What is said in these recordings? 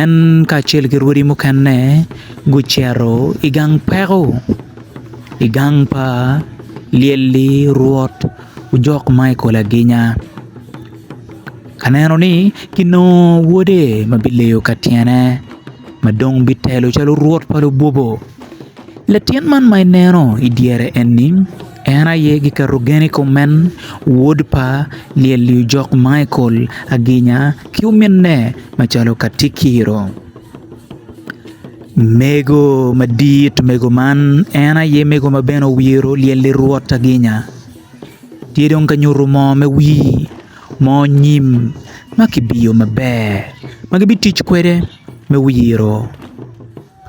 En kacel ki rwodi mukene gucito i gang peko i gang pa lyelli rwot ojok ma i kol aginya ka neno ni ginongo wode ma bileyo ka tyene ma dong bitelo calo rwot pa lubobo latin man ma ineno idyere eni En aye gikarugen i kom men, wod pa Lyellyojok Maikol Aginya ki ominne macalo katikiro. Mego madit mego man en aye mego ma bene owiro Lyelly Rwot Aginya. Tye dong ka nyuto moo me wir, moo nyim ma kibiyo maber ma gibitic kwede me wiro.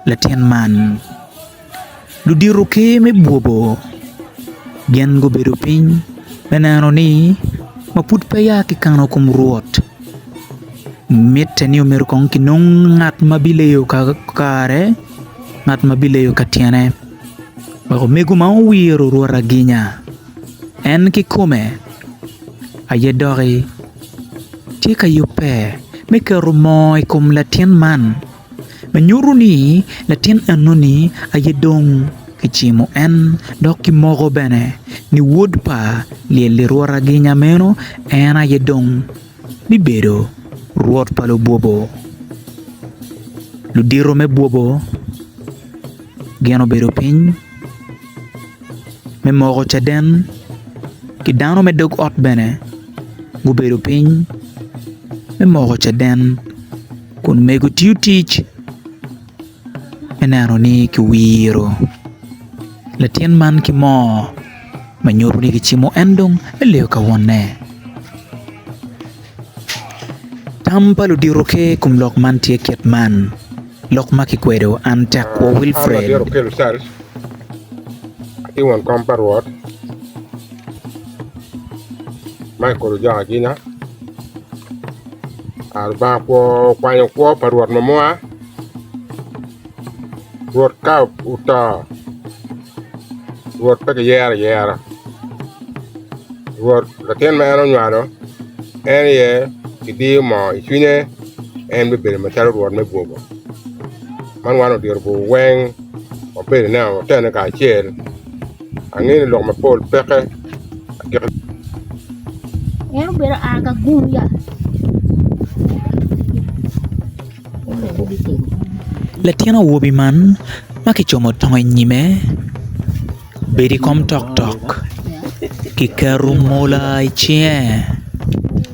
Latin man, ludito ker me bwobo gin gubedo piny me neno ni ma pud pe ya ki kano kom rwot mitte ni omyero kong kinong ngat ma bileyo kare ngat ma bileyo ka tyene wek omego ma owiro rwot aginya en kikome aye doki tye ka yubbe me keto moo i kom latin man. Me nyuto ni latin enoni aye dong kicimo en dok kimoko bene ni wod pa lyel lirwota ginya meno en aye dong bibedo rwot pa lubwobo ludito me bwobo gin obedo piny me moko caden ki dano me dog ot bene gubedo piny me moko caden. Kun mego tiyo tic me neno ni kiwiro latin man ki moo me nyuto ni kicimo en dong eleo ka wonne tam pa ludito ki i kom lok man tye kit man lok ma kikwedo an tekwo Wilfred. An labyelo kelo cal atye won kom pa Rwot Michael Ojok Agina. Ah Lubanga kwo okwanyo kwo pa Rwot ma moa, Rwot ka oto, Rwot pe kiyero ayera. Rwot latin ma en onywalo, en aye kidiyo moo i cwinye, en bibedo macalo Rwot me bwogo. Man wan odiro bur weng, wabedo neno watene kacel. Angeyo ni lok mapol peke agika. En obedo a ka gung ya. Latin awobi man ma kicomo tongo i nyime obedo i kom toktok, kiketo mola i cinge.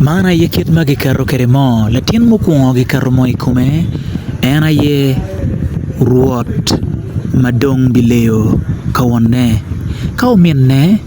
Man aye kit ma kiketo kwede moo latin mukwongo kiketo moo i kome en aye rwot ma dong bileyo ka wonne ka ominne.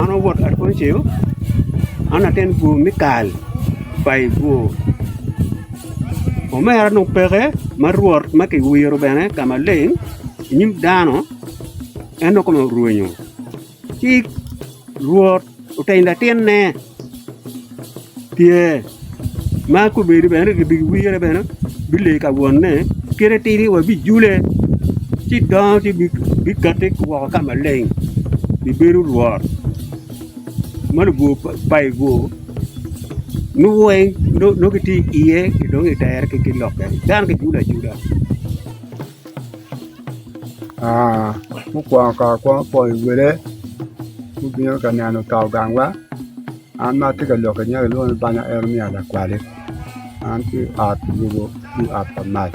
An awot Adoncio, an latin bur me kal pa i bur. Omera dong peke ma Rwot ma kiwiro bene ka maleng i nyim dano, en dong kome orwenyo. Ci Rwot oteny latinne, Pye, Ma kobedo bene ki bi wire bene bi lee ka wonne kite tidi wa bi jule ci dongo ci bi kati woko ka maleng bi bedo rwot ma labwor payi bwo nongo weng nongo ki tye iye dong i tere ki lokke dano ki julu ajula mukwongo kong akwongo pwoyo wele mubino ka neno kawu gang wa An ma atye ka lok inyeka kilwonga ni Banya Eremia Lakwali an ki i ot lobo ki i ot pa mac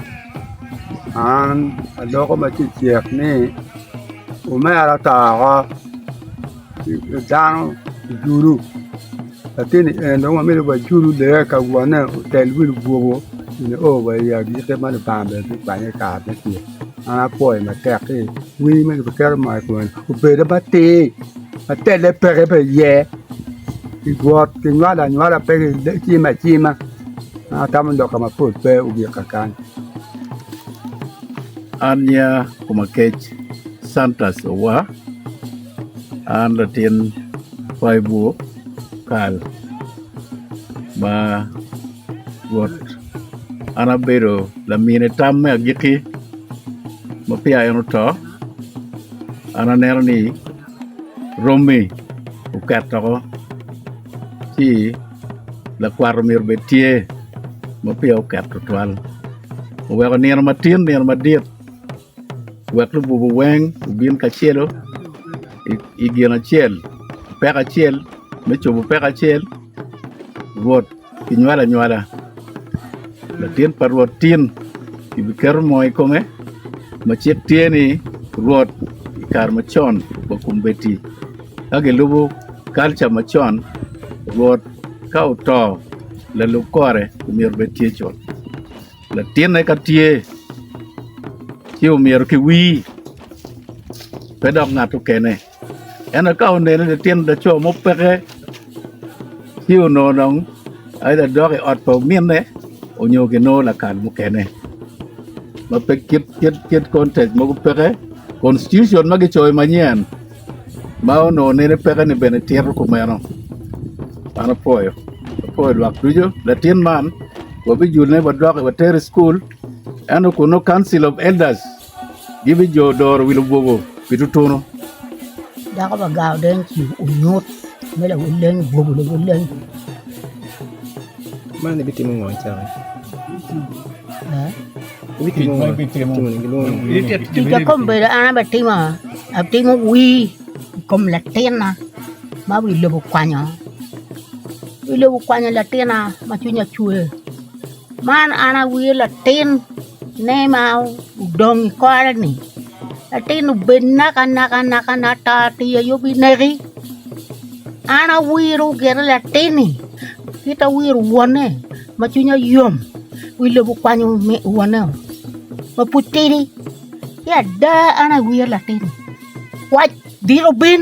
an aloko ma tye i cik ni omera oto woko dano ojulu latini en dong wamito wa ejulu lee ka wone otel wi lubuko nyo o wa i agikki ma Lubanga bene bikwanye i kare me ceng an apwoyo matek ni wi ma kibitito ma i kome-ni obed matir ma telle peke bene iye. I got kinywalo anywala pe kicimo acima ma atamo loka mapol pe ogika kany. An nya koma kec Santas Owa, an latin Paibu Kal ma got. An abedo lamin i tam me agikki ma peya en oto. An aneno ni romi oket doko ci lakwat myero obed tye ma peya oket twatwal oweko nino matin nino madit wek lububu weng obin kacelu i gin acel peko acel me cobo peko acel rwot Kinywalo anywala, latin pa Rwot tin, kibiketo moo i kome, ma cik tye ni, Rwot i kare macon wa kombeddi. Ka gilubo kalca macon, Rwot ka oto, lalub kore omyero obed tye cut. Latinne ka tye, ci omyero kiwir, pe dok ngat mukene. Ento ka oneno litino laco mo peke, ci onongo dong either dok i ot pa ominne onyo ginongo lakal mukene ma pe kit kit kit contact mogo peke. Constitution ma gicoyo manyen ma onongo nene peke ni bene tito kumeno. An apwoyo apwoyo lwak ducu latin man wabijulone wadok watere i cukul ento kun nongo council of elders Gibijodoro wi lubogo pi tutunu. Dako pa gar odeny ci onyut me lawil leny obwogo lawil leny. Man ibitimo ngo cawa? Ibitimo ngo? Ibitimo ngo? Gilwongo ni Tic a kombedda an abitimo, atimo wir i kom latinna ma wi lobo okwanyo. Wi lobo okwanyo latinna ma cwinya cwer. Man an awir latin. Ne ma odong i kore-ni, latin obed naka naka naka naka ata ata aye bineki, an awiro gire latin-ni kit ma awiro wonne ma cwinya yom wi lobo okwanyo wonne ma pud tidi ki ada an awiro latin-ni wac bino bim.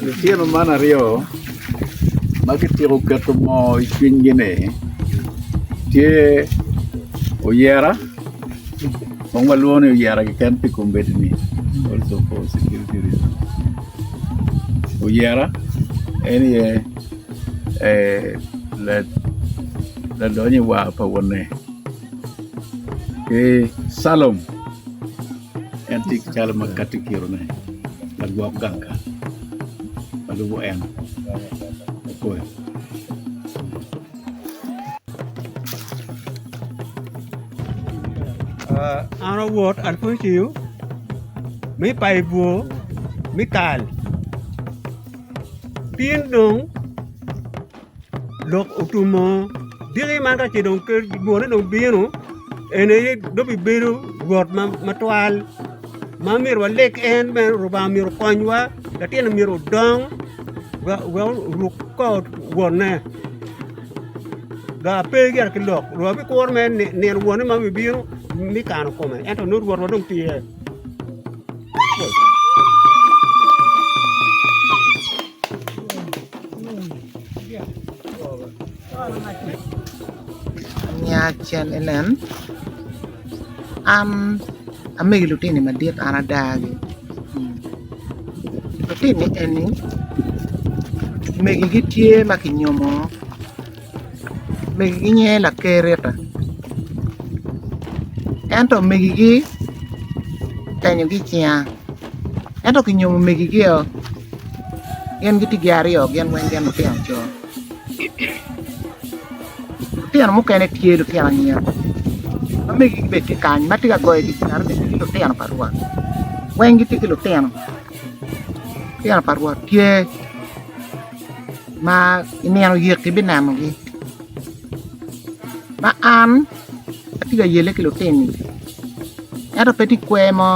Litino man aryo ma gityeko keto moo i cwinygi ni tye oyera kong walwongo ni oyera keken pi kombeddi-ni oyera en aye Ladony i war pa wonne ki calum en tye ki calo ma kati kirone lagwok gang ka ma lubo en kikoi. Tin dong lok otumo diki man ka ce dong ker dwone dong bino en aye dong bibedo rwot matwal ma myero waleg en bene Lubanga myero okonywa latinni myero odong wek oruk kor wonne dok pe yat ki lok rwot bikuru mere nino wonne ma bibino me kano kome ento nongo rwotwa dong tye. Nya cal enen, an amege lutini madit an adagi, lutini eni megigi tye ma kinyomo megi gi nyinge lakerita ento megi gi otenyo gi icinga ento kinyomo megi gi o gin gitye gin aryo gin weng gin lutino co lutino mukene tye lutino anyira ma megi gi bene tye kany ma tye ka goyo gi cinga ni megi gi lutino pa rwot weng gitye ki lutino lutino pa rwot tye ma i nino yek ibinenogi ma an atye ka yelle ki lutini ento pe tye kwer mo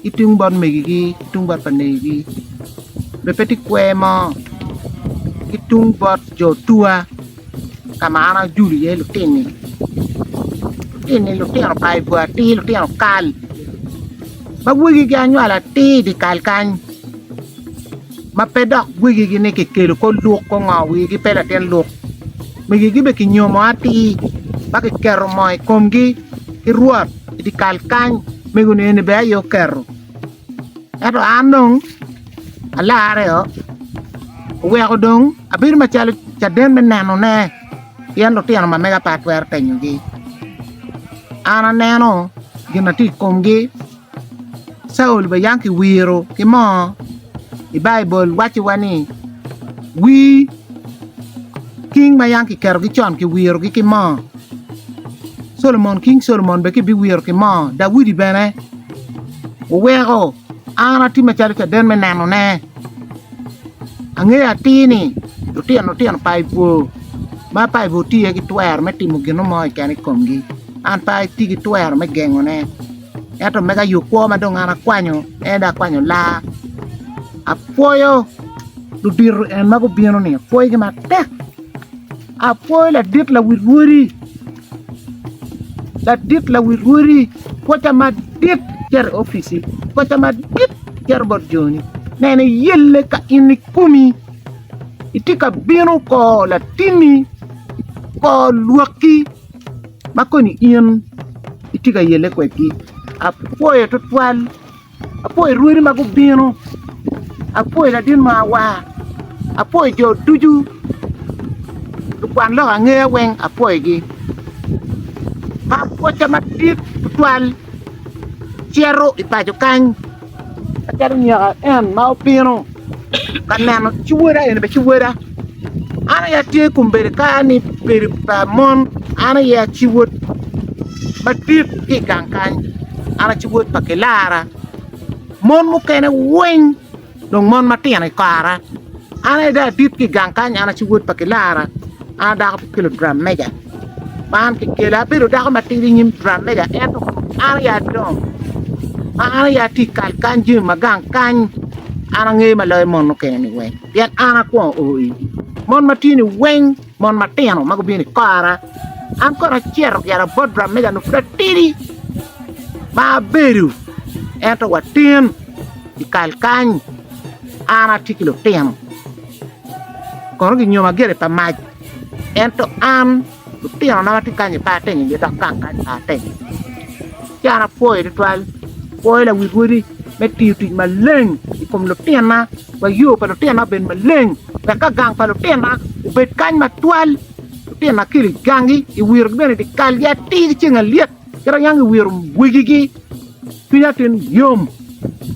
ki tung bot megigi ki tung bot pa negigi bene pe tye kwer mo ki tung bot jo otwa. ka ma an ajulu iye lutinni lutinni lutino pa i bwot atir lutino kal ma wegigi anywalo atir i dye kal kany ma pe dok wegigi ni kikelo ko luk ko ngo wigi pe latin luk migigi bene kinyomo atir ma kiketo moo i komgi ki rwot i dye kal kany mego ni eni bene aye oketo ento an dong Alarre-o oweko dong abedo macalo caden me nenone pien lutino ma mega pe atwero tenyogi. An aneno gin ma tye i komgi, Caulo bene yang kiwiro ki moo i Baibul wacciwa ni wii king ma yang kiketogi con kiwirogi ki moo. Solomon, King Solomon bene ki biwiro ki moo, Daudi bene oweko an ati macalo caden me neno ne, angeyo atir ni lutino lutino pa i bwo ma pa i bwo tye iye gi twero me timo gino mo keken i komgi, an pe ati ki twero me gengo ne, ento mega yo kwo ma dong an akwanyo en dong akwanyo laa, apwoyo ludito en ma gubino ni, apwoyo gi matek. Apwoyo ladit lawil rwodi, ladit lawil rwodi, pwoca madit cito i opici, pwoca madit cito bot joni, neno iyelle ka in ikumi itye ka bino kor latinni, kor lwakki ma koni in itye ka yelle kwedgi, apwoyo twatwal. Apoyo rwodi ma gubino, apoyo ladit mo awa, apoyo jo ducu, lukwan lok angeya weng apoyogi. Ma pwocca madit tutwal cito i paco kany macalo nyeka en ma obino. ka neno ci woda eni bene ci woda an aye atye kombeddi ka ni bedo pa mon an aye aci wod madit ki i gang kany an aci wod pa kilara mon mukene weng dong mon matino i kara an aye dong adit ki i gang kany an aci wod pa kilara an adako ki lugram meja. Man kikela, abedo dako matidi i nyim turameja ento an aye adongo. Ma an aye atye i kal kany jami ma gang kany an angeyo ma loyo mon mukene-ni weng pien an akwongo o igi. Mon ma tye-ni weng mon matino ma gubino i kora an kono acito gire bot turameja onongo pud atidi ma abedo ento watin i kal kany an atye ki lutino kono ginyoma gire pa mac. Ento an, lutinona ma tye kany-ni pe atinyogi dok kaka kany pe atinyogi. Ci an apwoyo tutwal, apwoyo lawi dwodi me tiyo tic maleng i kom lutinona wek yo pa lutinona obed maleng wek ka gang pa lutinona obed kany matwal, lutinona akelo i gangi, i wiro bene dyekal-gi atir ki ceng alyet. Kit anyangi owiro wigigi, cwiny atin yom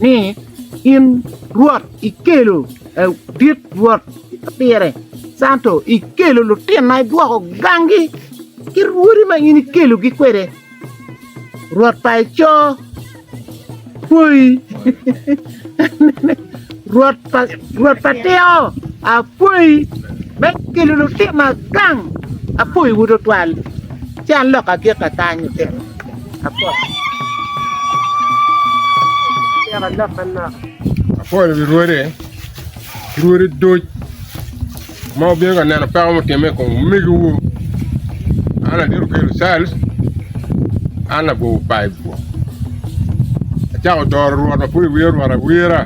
ni in Rwot ikelo ladit Rwot ka pire canto, ikelo lutinna idwoko gangi ki rwodi ma in ikelogi kwede, Rwot pa eco. Apwoyi. Rwot pa Rwot pa tiko, apwoyi me kelo lutino agang. Apwoyiwu tutwal. Ci an lok agikka kany lutino. Apwoyi. Atyeko lok manok. Apwoyo wi Rwode ki Rwode duc. Ma wubino ka neno peko mutimme i kom omegiwu, an adito kelo cal, an lagobo pa i bwok. Acako doro Rwot ma pud iwiro Rwot awira,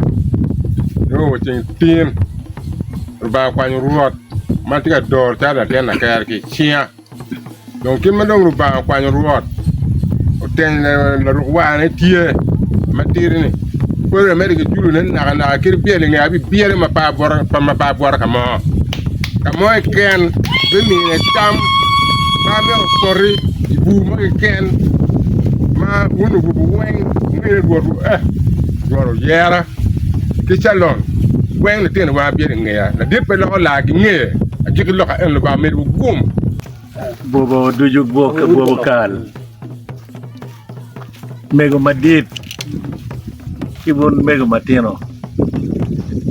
nongo wa ceng tin, Lubanga okwanyo Rwot ma tye ka doro calo latin laker ki i cinga. Dong kit ma dong Lubanga okwanyo Rwot oteny laruk warne tye matidi-ni, Pwod emedde ki julone nakanaka kadi bye linge abibiyere ma pe abwota ka mo. Ka mo keken bimine tam ma amito poti i bur mo keken ma wun orubo weng wunu ni, 'Rwot oyera. ki calong, weng litino wa biyero ingeya, ladit pe loko laa gi ngeye, agiki loka eno lubanga omid wu gum. Bwobo ducu gwok ka bwobo kal. Mego madit ki bun mego matino.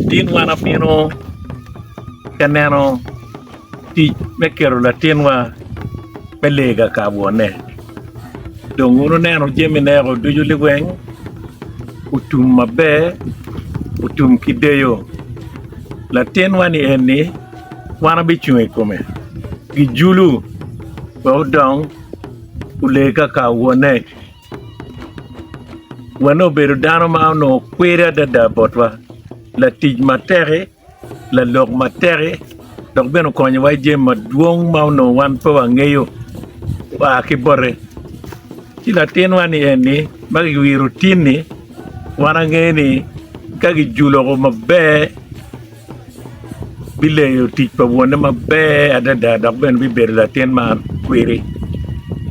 Tin wan apino ka neno tic me kero latinwa me lega ka bwone. Dong wun wuneno jami nego ducu liweng otum maber otum ki deyo latinwa-ni eni wan wabicung i kome pi julu wek odong olee kaka wonne wonne obedo dano ma onongo kwiri adada botwa latic matek-ki. lalok matek-ki dok bene okonyowa ki jami madwong ma onongo wan pe wangeyo oa ki bote ci latinwa ni eni ma kiwiro tin-ni wan angeyo ni ka kijulo woko maber bileyo tic pa wonne maber adada dok bene bibedo latin ma kwiri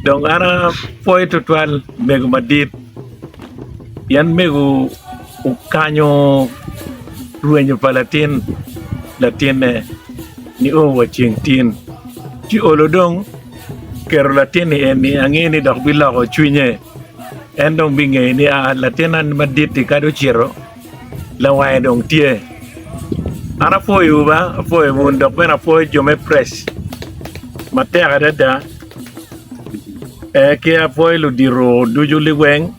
dong an apwoyo tutwal mego madit pien mego Okanyo rwenyo pa latin latinne nio wa ceng tin, ci olo dong keto latin-ni eni ange ni dok biloko cwinye, en dong bingeyo ni aa latinna madit-ti kadi ocito lawange dong tye. An apwoyowu ba, apwoyo bun dok bene apwoyo jo me prec matek adada, ki apwoyo ludito ducu liweng.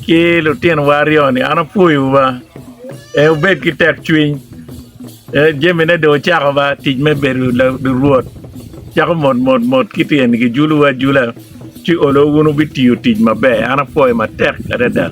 ki lutinowa aryo ni an apwoyo wa ee wubed ki tek cwiny ee jami ne dong ocako ba tic me bedo lurwot cako mot mot mot kiti eni ki julu wa ajula ci olo wun wubitiyo tic maber an apwoyo matek adada